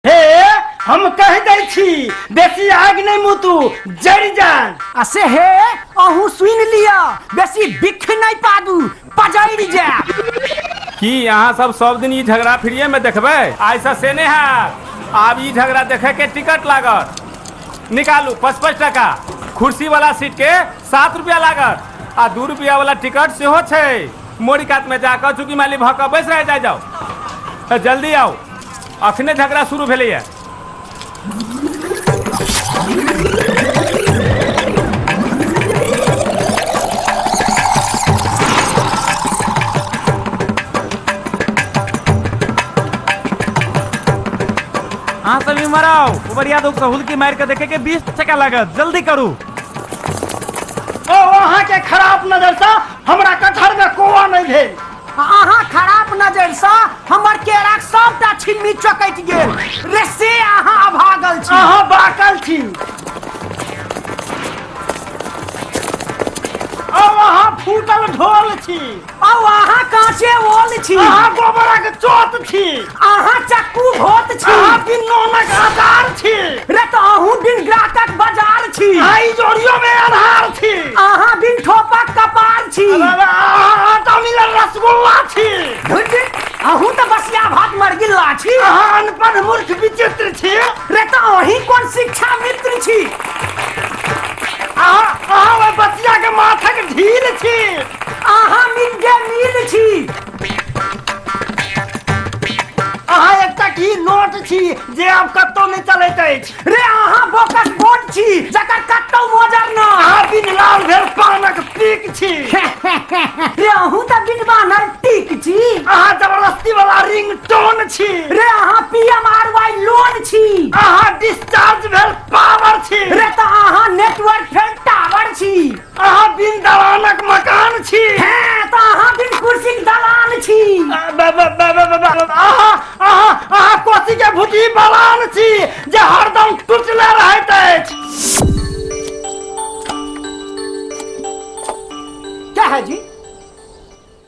हे हम कह दै छी बेसी आग नहीं मुतू जड़ जान आ से हे अहू सुन लिया बेसी बिख नहीं पादू पजैर जा की अहाँ सब सब दिन ई झगड़ा फ्रीए में देखबै आइसँ से नहि हैत आब ई झगड़ा देखै के टिकट लागत निकालू पचपन टाका कुर्सी वाला सीट के सात रुपआ लागत आ दू रुपआ वाला टिकट सेहो छै मोड़ी कात में जाकर चूंकि माली भऽ कऽ बैस रह जाय जाओ तऽ जल्दी आओ अखने झगड़ा शुरू भेलैए अहाँ सब इमहर आओ उबरिया दोग सहूल की मार के देखे के बीस टका लागत जल्दी करू ओ अहाँके खराब नजरसँ हमरा कटहरमे कोआ नहि भेल अहाँ खराब नजरसँ हमर केराक सभटा छिम्मी चकटि गेल रे से अहाँ अभागल छी अहाँ बाकल छी ओ अहाँ फूटल ढोल छी आउ अहाँ काँचे ओल छी अहाँ गोबरक चोत छी अहाँ चक्कू भोत छी अहाँ बिन नोनक आधार छी रे तऽ अहूँ बिन ग्राहकक बाजार छी आइ जोड़ियो में आधार छी अहाँ बिन ठोपक कपार छी आटा मिलल रसगुल्ला छी धुट अहूँ तऽ बसिया भात मर गिल्ला छी अहाँ अनपढ़ मूर्ख विचित्र छी रे तऽ अहीं कोन शिक्षा मित्र छी अहाँ अहाँ ओहि बसिया के माथक ढील छी अहाँ मिड डे मील छी अहाँ एकटा की नोट छी जे आब कतौ नहि चलैत अछि रे अहाँ बोकस बोट छी जकर कतौ मोजर न अहाँ बिन लाल भेल पानक पीक छी रे अहूँ तऽ बिन बानर टीक छी अहाँ जबरदस्ती वाला रिंग टोन छी रे अहाँ पीएम आर वाई लोन छी अहाँ डिस्चार्ज भेल पावर छी रे तऽ अहाँ नेटवर्क फेल टावर छी अहाँ बिन दलानक मकान छी हैं तो अहाँ बिन कुर्सी के दलान छी अहाँ अहाँ अहाँ कोसी के भुजी बलान छी जे हरदम टुटले रहैत अछि क्या है जी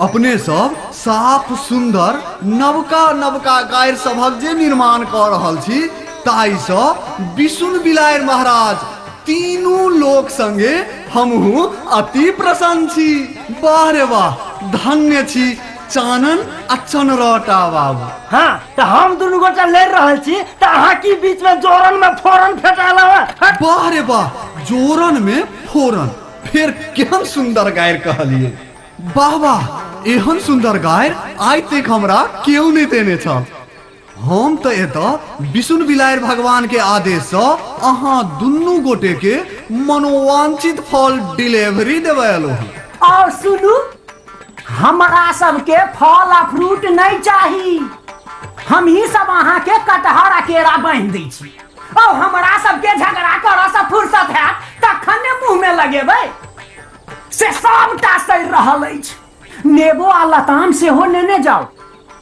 अपने सब साफ सुंदर नवका नवका गायर सभक जे निर्माण क रहल छी ताई स विष्णु बिलायर महाराज तीनू लोक संगे हमहू अति प्रसन्न छी वाह रे वाह धन्य छी चानन आ चनरटा बाबू हाँ तो हम दुनू गोटा लड़ रहल छी तो अहाँ की बीच में जोरन में फोरन फेटाला वाह रे वाह जोरन में फोरन फिर केहन सुंदर गायर कहलिए वाह वाह एहन सुंदर गायर आइ तक हमरा केहू नहीं देने छल हम तो एत विष्णु बिलायर भगवान के आदेश से अहा दुनू गोटे के मनोवांछित फल डिलीवरी देवे अलो हूँ और सुनू हमरा सबके फल आ फ्रूट नहीं चाही हम ही सब अहा के कटहर आ केरा बांध दै छी औ हमरा सबके झगड़ा करऽ सँ फुर्सत हैत तखन ने मुँह में लगेबै से सबटा सड़ि रहल अछि नेबो आ लताम सेहो नेने जाउ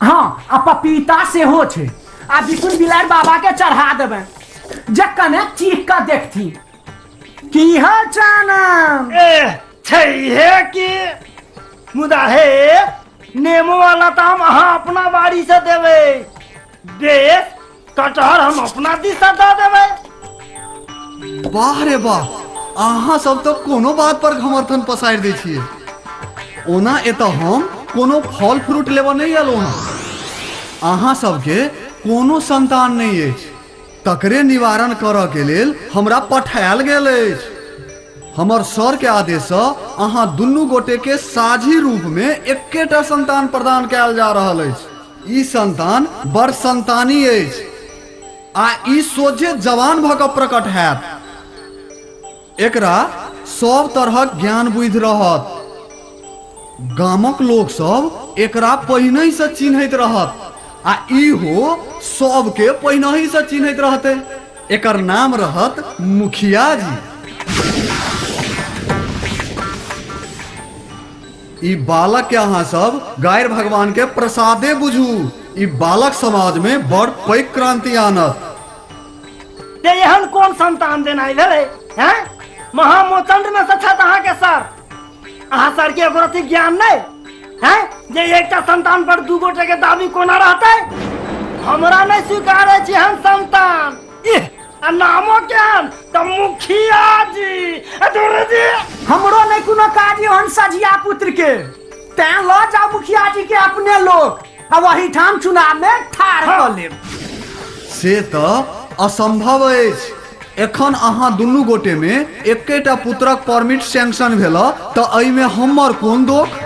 हँ आ पपीता सेहो छै आ बिकुन बिलार बाबा के चढ़ा देबै जे कने चीख कऽ देखथि की हाल चानम एह छै हे कि मुदा हे नेमो वाला ताम अहाँ अपना बाड़ी से देबै बेस कटहर हम अपना दिशा दऽ देबै वाह रे वाह अहाँ सब तो कोनो बात पर घमर्थन पसारि दै छियै ओना एतऽ हम कोनो फल फ्रूट लेबऽ नहि एलहुँ हँ अहाँ सबके कोनो संतान नहि अछि तकरे निवारण करऽ के लेल हमरा पठायल गेल अछि हमर सर के आदेशसँ अहाँ दुनू गोटे के साझी रूप में एकेटा संतान प्रदान कयल जा रहल अछि ई संतान बड़ संतानी अछि आ ई सोझे जवान भऽ कऽ प्रकट हैत एकरा सब तरहक ज्ञान बुद्धि रहत गामक लोक सब एकरा पहिनहि से चिन्हैत रहत आ इहो सबके पहिनहि से चिन्हैत रहते एकर नाम रहत मुखिया जी ई बालक के अहाँ सब गारि भगवान के प्रसादे बुझू ई बालक समाज में बड़ पैक क्रांति आनत ते एहन कोन संतान देनाइ भेलै हैं महामोचंड में से छथि अहाँके सर अहाँ सर के एगोरती ज्ञान नहि हैं जे एकटा संतान पर दू गोटे के दाबी कोना रहतै हमरा नहि स्वीकार अछि एहन संतान इह आ नामो केहन तऽ मुखिया जी आ धुर जी हमरो नहि कोनो काज ओहन सझिया पुत्र के तैं लऽ जाओ मुखिया जी के अपने लोग आ वही ठाम चुनाव में ठार कऽ लेब से तऽ असंभव अछि एखन अहाँ दुनू गोटे में एकेटा पुत्रक परमिट सैंक्शन भेल तऽ एहिमे हमर कोन दोख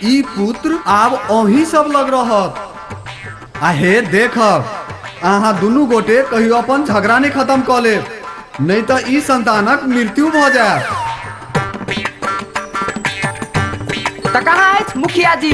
ई पुत्र आब अही सब लग रहत आ हे देखब अहाँ दुनू गोटे कहियो अपन झगड़ा नहि खत्म कऽ लेब नहि तऽ ई संतानक मृत्यु भऽ जायत तऽ कहाँ अछि मुखिया जी